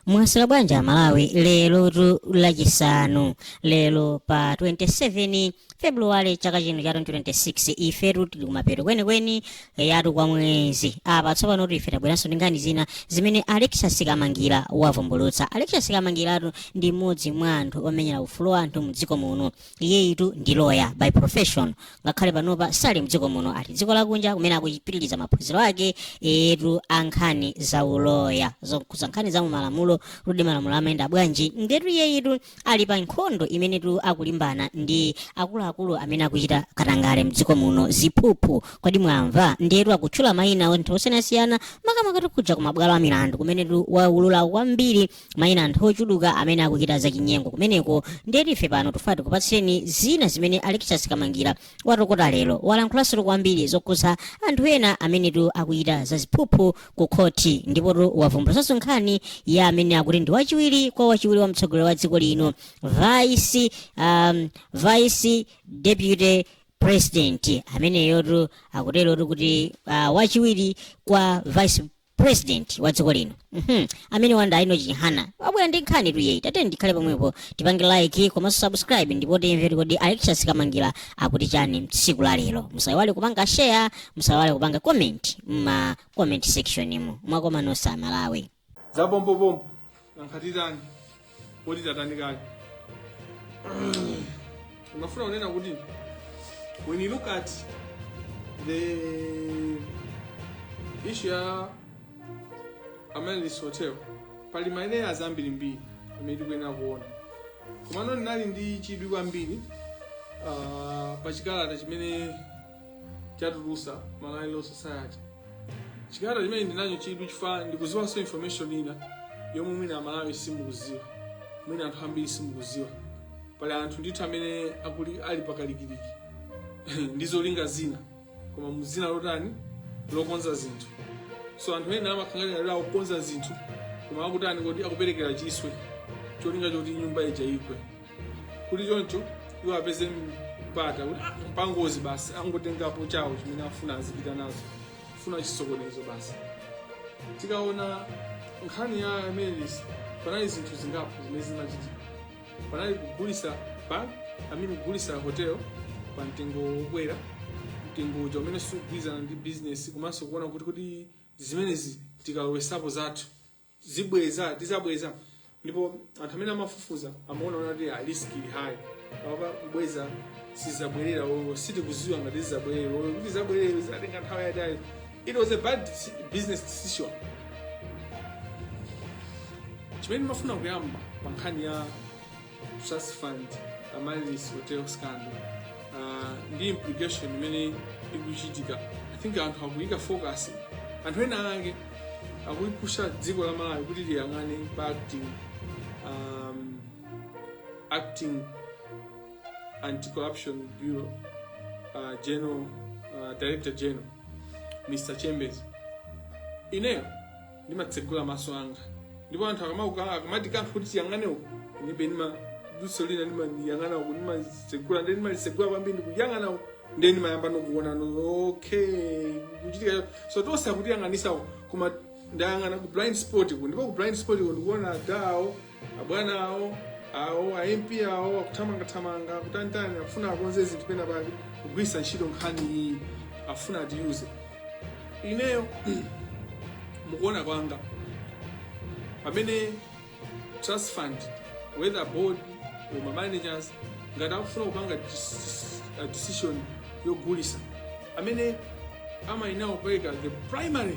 mwaswera bwanji amalawi lerotu lachisanu lero pa 27 februwale chaka chino cha 2026 ifetu tili kumapeto kwenikweni eyatu kwa mwezi apa tsopanotu ife tabweranso ndi nkhani zina zimene alexis kamangila wavumbulutsa alexis kamangilatu ndi mmodzi mwa anthu omenyera ufulu wa anthu mdziko muno iyeyitu ndi loya by profession ngakhale panopa sali mdziko muno ali dziko lakunja kumene akupitiriza maphunziro ake eyetu a nkhani za uloya zokhudza nkhani za malamulo kuti malamulo amayenda bwanji ndetu iyeyitu ali pa nkhondo imenetu akulimbana ndi akuluakulu amene akuchita katangale mdziko muno ziphuphu kodi mwamva ndetu akutchula mayina anthu osiyanasiyana makamaka tikuja ku mabwalo a milandu kumenetu waulula kwambiri mayina anthu ochuluka amene akuchita zachinyengo kumeneko ndiyetu ife pano tufuna tikupatseni zina zimene alexis kamangila watokota lero walankhulansotu kwambiri zokhudza anthu ena amenetu akuchita zaziphuphu ku khoti ndipotu wavumbulutsanso nkhani ya amene akuti ndi wachiwiri kwa wachiwiri wa mtsogoleri wa dziko lino vice um, vice deputy president ameneyotu akuterotu kuti uh, wachiwiri kwa vice president wa dziko lino Mhm. amene wa nda enock chihana wabwera ndi nkhanitu iyeyi tiyeni tikhale pomwepo tipange like komanso subscribe ndipo timvere kodi alexis kamangila akuti chani tsiku la lero musayiwale kupanga share musayiwale kupanga comment mma comment section mu mwakoma nonse amalawi za pompopompo Nanga titani poti tatani kale? Ndimafuna kunena kuti when you look at the issue ya Amaryllis Hotel pali ma angle azambiri mbiri amene tikuyenera kuona komano ndinali ndi chidwi kwambiri ah, pa chikalata chimene chatulusa Malawi Law Society chikalata chimene ndinacho chidwi chifukwa ndikuziwanso information ina yomwe mwina amalawi simukuziwa mwina anthu ambiri simukuziwa pali anthu ndithu amene ali pakalikiliki ndi zolinga zina koma muzina lotani lokonza zinthu so anthu ena amakhala ngati akukonza zinthu koma akutani kuti akuperekera chiswe cholinga choti nyumba ija igwe kuti choncho iwo apeze mpata kuti "Ah, ndi pangozi basi angotengapo chawo chimene afuna azipita nazo funa chisokonezo basi tikaona nkhani ya amaryllis panali zinthu zingapo zimene zimachitika panali kugulisa bank i mean kugulisa hotel pa mtengo wokwera mtengo uja umene sugwirizana ndi business komanso kuona kuti kuti zimenezi tikalowesapo zathu zibweza tizabweza ndipo anthu amene amafufuza amaona ona kuti ah, risk ili high apa kubweza sizabwerera olo sitikuziwa ngati zizabwerere olo kuti zabwerere zizatenga nthawi yaitali it was a bad s- business decision chimene ndimafuna kuyamba pa nkhani ya trust fund amaryllis hotel scandal uh, ndi implication imene ikuchitika i think anthu akuyika focus anthu ena ake akuyipusha dziko la malawi kuti liyang'ane pa acting um, acting anti-corruption bureau uh, general uh, director general mr chembezi ineyo ndimatsegula maso anga ndipo anthu akama- akamatikankha kuti tiyang'ane uku ndiye ndima diso lina ndimayang'ana uku ndimatsegula nde ndimalisegula kwambiri ndikuyang'ana uku nde ndimayambano kuona no okay kuchitika cho- so tonse akutiyang'anisa uku koma ndayang'ana ku blind spot ku ndipo ku blind spot ku ndikuona adawo Abwana awo awo a MP awo akuthamangathamanga akutanitani akufuna akonze zinthu pena pake kugwiritsa ntchito nkhani iyi afuna atiyuze ineyo mukuona kwanga pamene trust fund whether board or ma managers ngati akufuna kupanga dis- a decision yogulisa amene amayenera kupereka the primary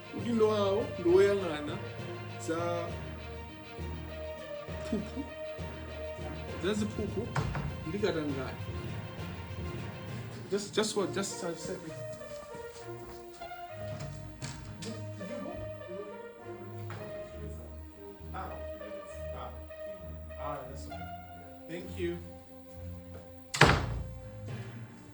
udindo wawo ndi woyang'ana za phuphu za ziphuphu ndi katangale just just what just a second Thank you.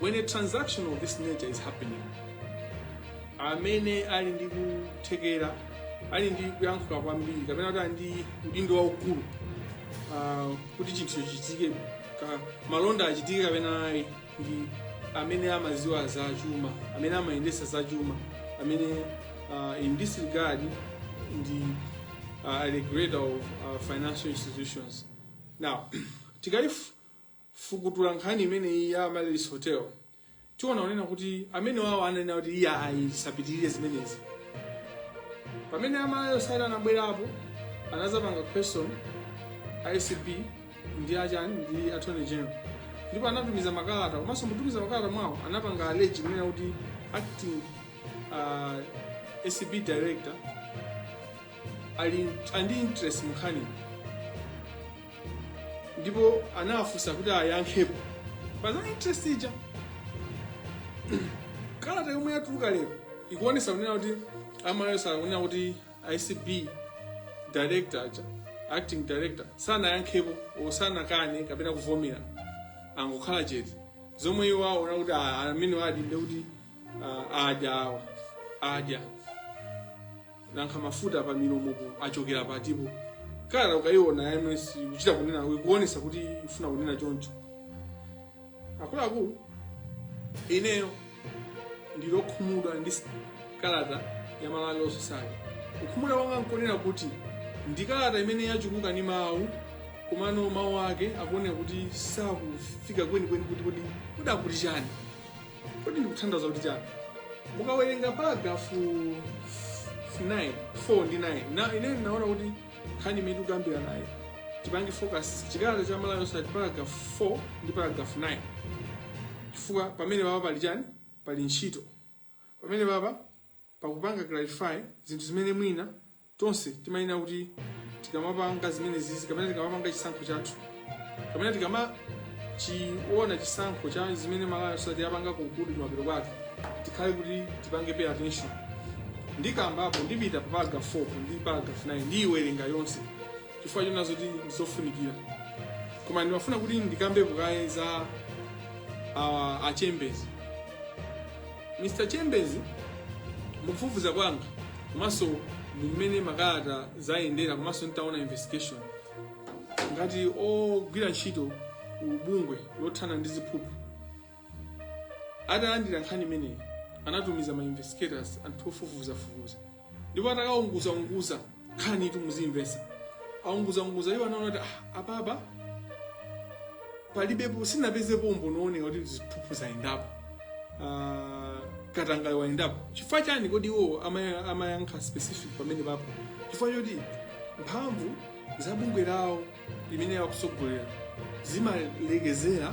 When a transaction of this nature is happening, amene ali ndi kuthekera ali ndi kuyankhula kwambiri kapena kuti ali ndi udindo waukulu ah, kuti chinthu chichitike ka malonda achitike kapena ayi ndi amene amaziwa za chuma amene amayendesa za chuma amene ah, in this regard ndi ah, a regulator of ah, financial institutions now tikaifu fukutula nkhani imeneyi ya Amaryllis Hotel, tiona kunena kuti amene wawo ananena kuti iyayi zisapitirire zimenezi. Pamene a Malawi Law Society anabwerapo, anazapanga question a ACB ndi achani ndi Attorney General. Ndipo anatumiza makalata, komanso mutumiza makalata mwawo anapanga allege kunena kuti acting uh, ACB director ali ndi interest munkhani ndipo anawafunsa kuti ayankhepo pa za interest ija kalata yomwe yatuluka lero ikuonesa kunena kuti a malawi law society akunena kuti acb director aja acting director sanayankhepo o sanakane kapena kuvomera angokhala chete zomwe iwo aona kunena kuti ah, amenewa adinda kuti ah, adya awa adya nankha mafuta pa milomopo achokera patipo kalata ukayiona yeniyeni kuchita kunena ikuonesa kuti ifuna kunena choncho akuluakulu ineyo ndili okhumudwa ndi s- kalata ya malawi law society kukhumudwa kwanga nkonena kuti ndi kalata imene yachuluka ndi mawu komano mawu ake akuoneka kuti sakufika kwenikweni kuti kodi kodi akuti chani kodi ndikutanthauza kuti chani mukawerenga paragrafu 9 4 ndi 9 na ine ndinaona kuti nkhani imene tikukambiranayo tipange focus chikalata cha malawi law society paragrafu 4 ndi paragrafu 9 chifukwa pamene papa pali chani pali ntchito pamene papa Pakupanga clarify zinthu zimene mwina tonse timayenera kuti tikamapanga zimenezizi kapena tikamapanga chisankho chathu kapena tikamachiona chisankho cha zimene Malawi Law Society yapanga conclude kumapeto kwake tikhale kuti tipange pay attention ndikambapo ndipita pa paragraph 4 ndi paragraph 9 ndiyiwerenga yonse chifukwa choona zoti ndizofunikira koma ndimafuna kuti ndikambepo kaye za uh, a Chembezi Mr Chembezi, mukufufuza kwanga komanso mumene makalata ayendera komanso nditaona investigation ngati ogwira ntchito kubungwe lothana ndi ziphuphu atalandira nkhani imeneyi anatumiza ma investigators anthu ofufuzafufuza ndipo atakaunguza unguza nkhaniitu muzimvesa aunguza unguza iwo anaona kuti ah, apapa palibepo sanapezepo umboni wooneka kuti ziphuphu zayendapo Ah, katangale wayendapo chifukwa chani kodi iwo amaya- amayankha specific pamene papo chifukwa choti mphamvu za bungwe lawo limene akutsogolera zimalekezera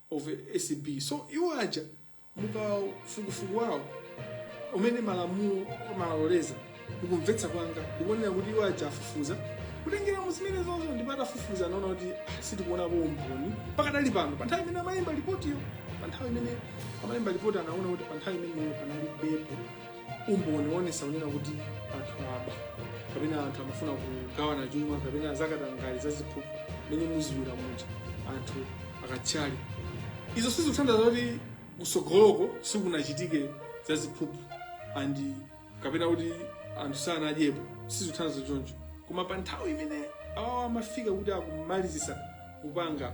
kwa acb so iwo aja mukafukufuku wawo umene malamulo amawaloleza mukumvetsa kwanga ndikuonera kuti iwo aja afufuza kutengera mu zimenezonso ndipo atafufuza anaona kuti ah, sitikuonapo umboni pakadali pano pa nthawi imene amalemba lipotiyo pa nthawi imene amalemba lipoti anaona kuti pa nthawi imeneyo panalibepo umboni woonesa kunena kuti anthu aba kapena anthu amafuna kugawana chuma kapena zakatangale za ziphuphu mmene mukuziwira muja anthu akatchali izo sizikutanthauza kuti kusogoloko sikunachitike za ziphuphu and kapena kuti anthu sanadyepo sizikutanthauza choncho koma pa nthawi imene awowo amafika kuti akamalizise kupanga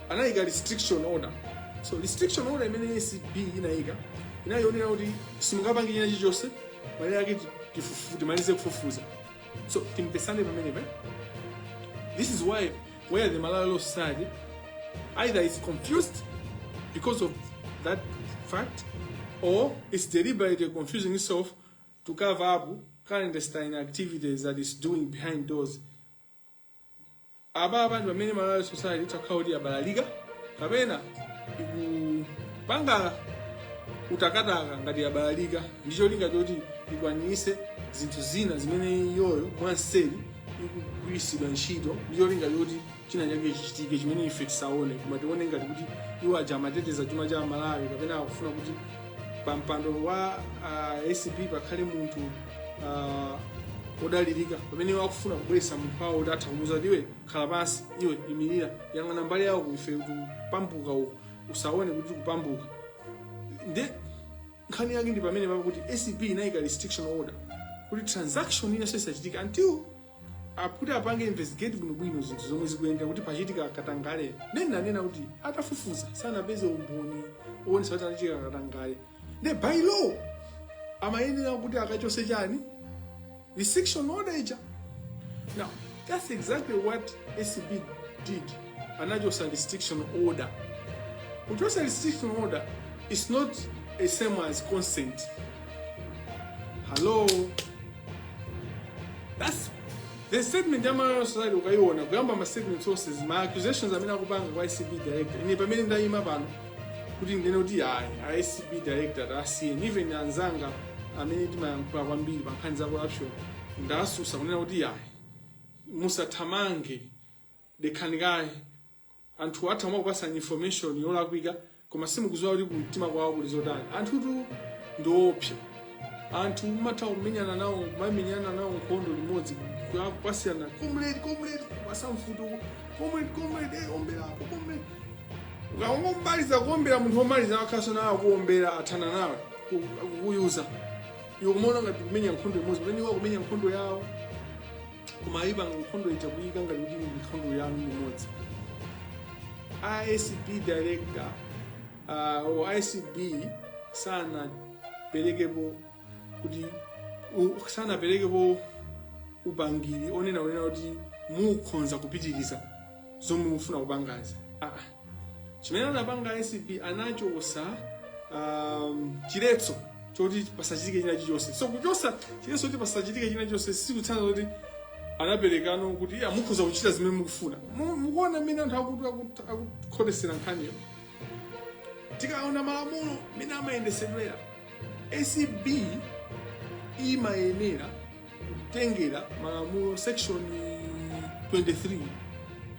anayika restriction order so restriction order imene acb inayika inayionera kuti simungapange china chilichonse malire ake tifufu- timalize kufufuza so timvesane pamenepa this is why where the malawi law society either is confused because of that fact or it's deliberately confusing itself to cover up clandestine activities that it's doing behind doors apa apa ndi pamene malawi society itakhala kuti yabalalika kapena ikupanga kutakataka ngati yabalalika ndi cholinga choti ikwanise zinthu zina zimene iyoyo mwanseri ikugwiritsidwa ntchito ndi cholinga choti china chake chichitike chimene ife tisaone koma tione ngati kuti iwo aja akuteteza chuma cha malawi kapena akufuna kuti pa mpando wa uh, acb pakhale munthu uh, odalirika pamene iwo akufuna kubweretsa munthu wawo kuti atha kumuuza kuti iwe khala pansi iwe imirira yang'ana mbali yawo kuife kukavunda uku usaone kuti kukavunda nde nkhani yake ndi pamene papo kuti acb inayika restriction order kuti transaction ina isachitike until kuti apange investigate bwinobwino zinthu zomwe zikumveka kuti pachitika katangale nde ananena kuti atafufuza sanapeze umboni woonesa kuti panachitika katangale nde by law amayenera kuti akachose chani restriction order ija now that's exactly what acb did anachosa restriction order kuchosa restriction order is not the same as consent hello that's the statement ya malawi society ukaiona kuyamba ma statement onse ma accusations amene akupanga kwa acb director ine pamene ndayima pano kuti ndinene kuti ayi a acb director tasiyeni even anzanga amene timayankhula kwambiri pa nkhani za corruption ndasusa kunena kuti ayi musathamange dekhani kaye anthu atha kumakupasani information yolakwika koma simukuziwa kuti kumtima kwawo kuli zotani anthutu ndiopsa anthu mumatha kumenyana nawo kumamenyana nawo nkhondo limodzi kumati comrade comrade kukupasa mfuti comrade comrade eh, omberapo comrade ukangomaliza kuombera munthu omaliza ukhaso iwe akuombera athana nawe ku- kukuyuza iwe kumaona ngati mukumenya nkhondo imodzi pamene iwo akumenya nkhondo yawo koma ayipanga nkhondo ija kuyika ngati kuti ndi nkhondo yanu limodzi acb director uh, or acb sanaperekepo kuti u- sanaperekepo upangiri onena kunena kuti mukhonza kupitiriza zomwe mufuna kupangazi ah. chimene anapanga acb anachotsa um, chiletso choti pasachitike china chilichonse so kuchotsa chiletso choti pasachitike china chilichonse sikutanthauza kuti anaperekano kuti iya mukhoza kuchita zimene mukufuna Mu- mukuona mmene anthu akuti akut- akukhotetsera nkhaniyo tikaona malamulo mmene amayendetsedwera acb imayenera kutengera malamulo section 23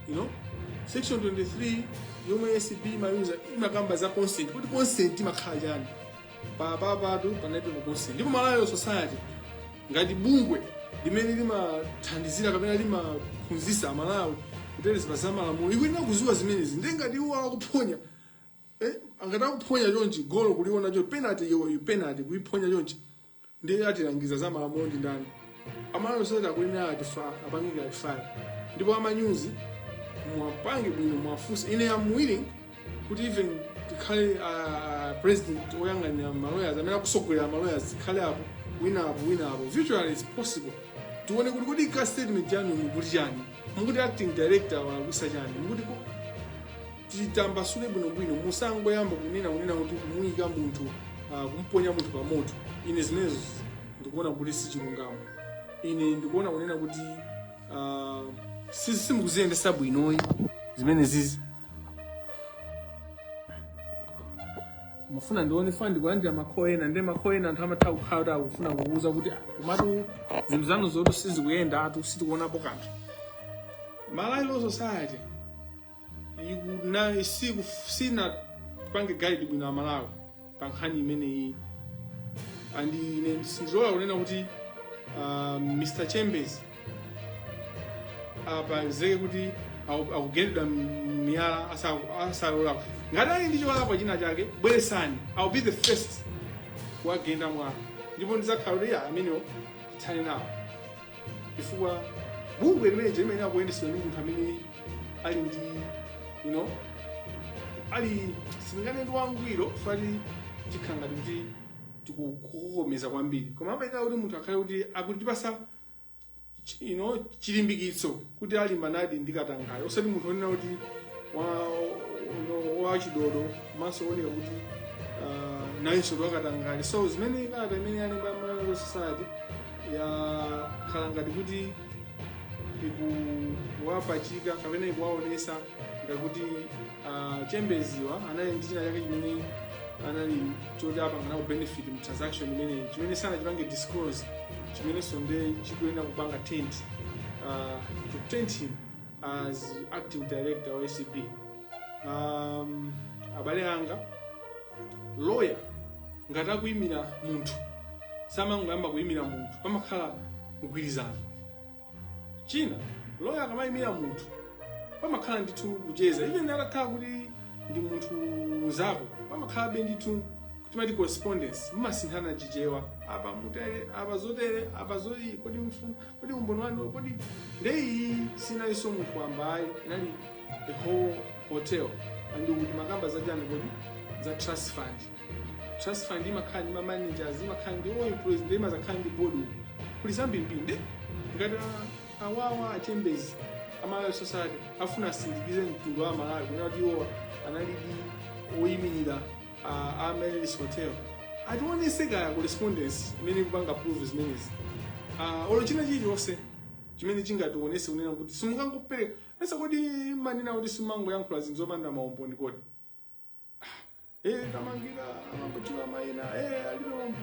you know section 23 yomwe acb imauza imakamba za consent kuti consent imakhala chani apapatu panalibe ma consent ndipo malawi society ngati bungwe limene limathandizira kapena limaphunzitsa amalawi kuteteza za malamulo ikuyenera kuziwa zimenezi ndiye ngati iwo akuphonya eh, ngati akuphonya chonchi golo kuliona chonchi penalty iyo penalty kuiphonya chonchi ndiye atilangiza za malamulo ndi ndani malawi society akuyenera atifa apange clarify ndipo amanyuzi mwapange bwino mwafunse ine am willing kuti even tikhale uh, president oyang'anira maloyers amene akusogolera maloyers tikhale apo wina apo wina apo virtually is possible tione kuti kodi ka statement chanu mukuti chani mukuti acting director walakwitsa chani mukuti ko- titambasule bwinobwino musangoyamba kunena kunena kuti kumuyika munthu ah, kumponya munthu pa moto ine zimenezo ndikuona kuti si chilungamo ine ndikuona kunena kuti ah, si- simukuziyendesa bwinoyi zimene zizi mufuna ndione fani ndikulandira makho ena ndi makho ena anthu amatha kukhala kuti akufuna kukuuza kuti "Ah, komatu zinthu zanu zoti sizikuyendatu sitikuonapo kanthu malawi law society na si sinapange guide bwino amalawi pa nkhani imeneyi and ine sindilola kunena kuti uh, mr chambers apezeke kuti aku- akugendedwa m- miyala asa- asalakwe ngati ali ndi cholakwa china chake bweresani ill be the first kuwagenda mwala ndipo ndizakhala kuti ya amenewo tithane nawo chifukwa bungwe limene lija limayenera kuyendetsedwa ndi munthu amene ali ndi you know ali sindinganene ndi wangwiro chifukwa ti tikhala ngati kuti tikukomeza kwambiri koma amayenera kuti munthu akhale kuti akutipasa you know chilimbikitso kuti alimbanadi ndi katangale osati munthu onena kuti wa- ono- wachidodo komanso oneka kuti ah, nayenso ndi wakatangale so zimene kalata imene yalemba ya malawi Law society yakhala ngati kuti ikuwapachika kapena ikuwaonesa ngakuti uh, chembeziwa anali ndi china chake chimene anali choti apanga nako benefit mu transaction imeneyi chimene sanachipange disclose chimenenso nde chikuyenera kupanga taint uh, to taint him as acting director wa acb um, abale anga lawyer ngati akuyimira munthu samangoyamba kuyimira munthu pamakhala mgwirizano china loya akamayimira munthu pamakhala ndithu kucheza even atakhala kuti ndi munthu mnzako pamakhalabe ndithu timati correspondence mumasinthana chichewa apa mutere apa zotere apa zoti kodi mfu- kodi umboni wanu kodi ndeyi sinalinso munthu wamba ayi inali the whole hotel and kuti mmakamba zachani kodi za trust fund trust fund imakhala ndi mamanagers imakhala ndi all employees ndi imazakhala ndi board kuli zambirimbiri ndi ngati a- awawa achembezi amalawi society afuna asindikize mtundu wa malawi kunena kuti iwo analidi oyimirira a- Amaryllis hotel ationese kaya correspondence imene ikupanga prove zimenezi Ah, olo china chilichonse chimene chingationese kunena kuti simungangopereka hearsay kodi manena kuti simangoyankhula zinthu zopanda maumboni kodi Eh, kamangila amangotchula maina eh, alilombo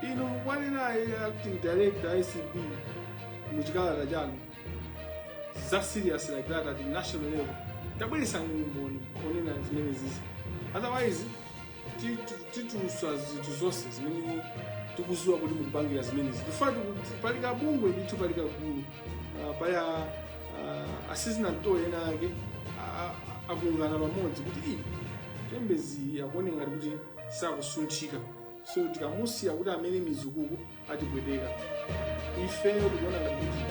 inu mukuwanena eh, acting director acb muchikalata chanu za serious like that at national level tabweresani umboni onena zimenezizi otherwise ti- ti- tituluswa zinthu zonse zimene tikuziwa kuti mukupangira zimenezi chifukwa pali kabungwe ndithu pali kagulu Ah, paya ah, asizinamtole ena ake a- a- akungana pamodzi kuti "Ii, chembezi akuoneka ngati kuti sakusunthika so tikamusiya kuti amere mizu ukuku atipweteka ifeyo tikuona ngati kuti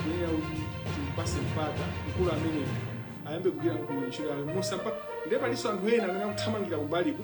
kuyenera kuti timpase mpata mkulu ameneyo ayambe kugwira mkulu ntchito yake musampa ndiye palinso anthu ena amene akuthamangira kumbaliko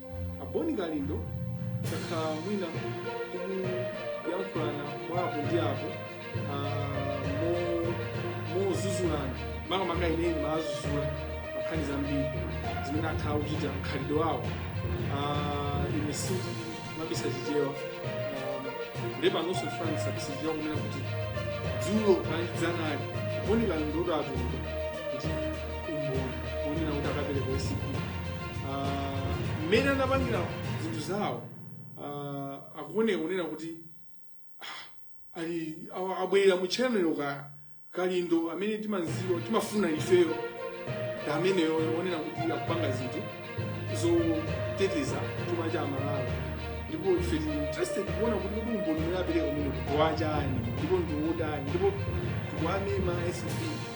aboni kalindo sakhala mwina kuyankhulana mwa apo ndi apo ah, mo- mozuzulana makamaka ine ndimawazuzula pankhani zambiri zimene akhala akuchita mkhalidwe wawo Ah, ine sindimabisa chichewa nde panonso ndifuna ndisabise chichewa kunena kuti dzulo kaya ndi dzanali boni kalindo kuti atuluka ndi umboni onena kuti akapereka usiku Ah, mmene anapangira zinthu zawo ah, akuoneka kunena kuti ah, ali awa- abwerera mu channel ka kalindo amene timanziwa timafuna ifeyo ndi ameneyo onena kuti tikupanga zinthu zoteteza chuma cha amalawi ndipo ife tili interested kuona kuti kodi umboni umene apereka umene kuwachani ndipo ndiwotani ndipo tikuwamema sp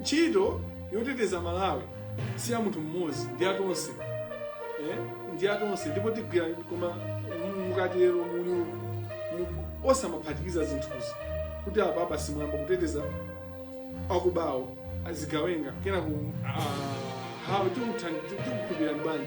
ntchito yoteteza malawi si ya munthu mmodzi ndi ya tonse eh? ndi ya tonse ndipo tigwira koma mu- mukatero muli mu- osamaphatikiza zinthuzi kuti apa basi mwayamba kuteteza akubawo azigawenga kenako ah, hawo tikuthandizira tikukhulupirirani bwanji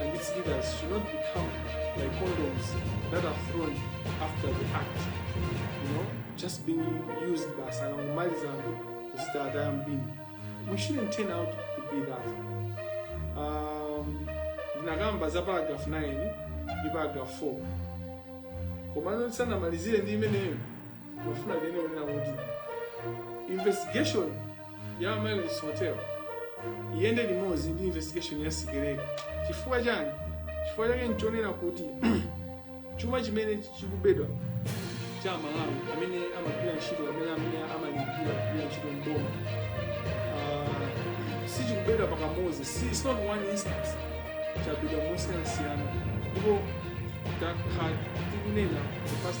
and its leaders should not become like condoms that are thrown after the act, you know, just being used basi akamaliza n'kuzitaya mu bin. We shouldn't turn out to be that. Um, ndinakamba za paragraph 9 ndi paragraph 4 komano ndisanamalizire ndi imeneyo ndofuna ndene kunena kuti investigation ya Amaryllis Hotel iyende limodzi ndi investigation ya Sikeleka chifukwa chani chifukwa chake nchonena kuti chuma chimene chikubedwa cha aMalawi amene amagwira ntchito amene amene amalipira kugwira ntchito mboma uh, sichikubedwa pakamodzi si it's not one instance chabedwa mosiyanasiyana ndipo takhala tikunena the past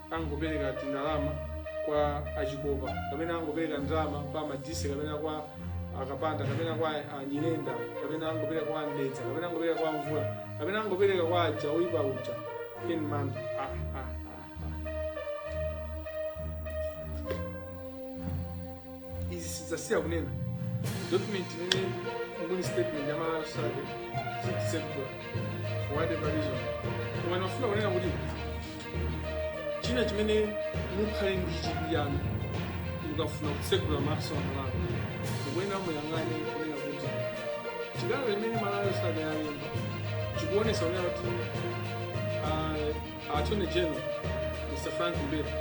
angopereka tindalama kwa achikopa kapena angopereka ndalama kwa Madise kapena kwa akapanda kapena kwa anyirenda kapena angopereka kwa a Mdeza kapena angopereka kwa mvula kapena angopereka kwa aja oyipa uja in manda ah, ah, ah. izi sidzasiya kunena document imene mu statement ya malawi law society sitisekutola for whatever reason koma ndimafuna kunena kuti china chimene mukhale ndi chidwi yanu mukafuna kutsegula maso a malawi mukuyenera muyang'ane kunena kuti chikalata chimene malawi law society yalemba chikuonesa kunena kuti ah, Attorney General Mr. Frank Mbeta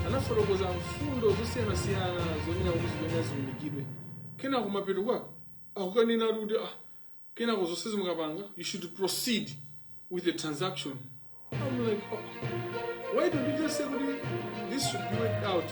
anafotokoza mfundo zosiyanasiyana zonena kuti zimene ziunikidwe kenako kumapeto kwake akukanena ali kuti ah, kenako zonsezi mukapanga you should proceed with the transaction I'm like, oh, why don't you just say kuti this should be worked out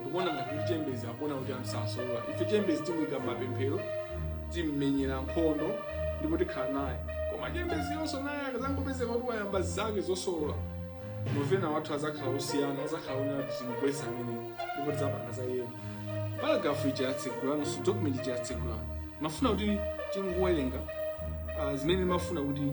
ndikuona ngati kuti chembezi akuona kuti amsosolola ife chembezi timuyika m'mapemphero timmenyera nkhondo ndipo tikhala naye koma chembeziyonso naye akazangopezeka kuti wayamba zake zosolola mavenda wathu azakhala osiyana azakhala onena kuti timugwesa ameneyo ndipo tidzapanga za iyeyo paragrafu ija yatsegulanso document ija yatsegula ndimafuna kuti tingowerenga ah, zimene ndimafuna kuti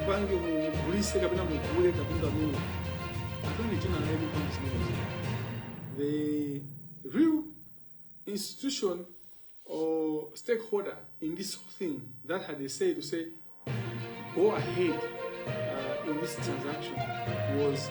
mupange mugulise kapena mugule katundu ameneyo attorney tina naye mupange zimenezo the real institution or stakeholder in this whole thing that had a say to say go ahead uh, in this transaction was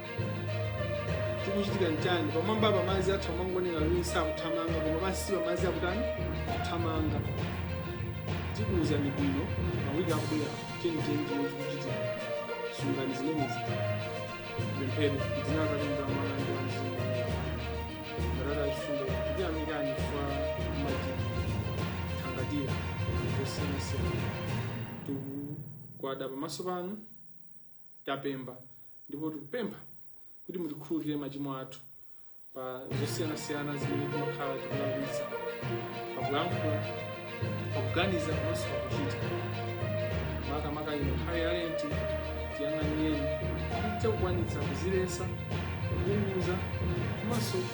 chikuchitika nchani pamwamba pa madzi bakha amangooneka ngati sakuthamanga koma pansi pa madzi akutani akuthamanga tikuwuzani bwino mawiki akubwera chenicheni chimene chikuchitika sungani zimenezi tipemphere m'dzina la atate la mwana ndi la mzimu atate achifundo tikuyamikani chifukwa mumatithangatira zosiyanasiyana tikugwada pamaso panu kupemba ndipo tikupempha kuti mutikhululukire machimo athu pa zosiyanasiyana zimene timakhala tikulakwitsa pakulankhula pakuganiza komanso pakuchita makamaka ino nthawi ya lenti tiyang'anireni tidzakwanitsa kuziletsa kuunguza komanso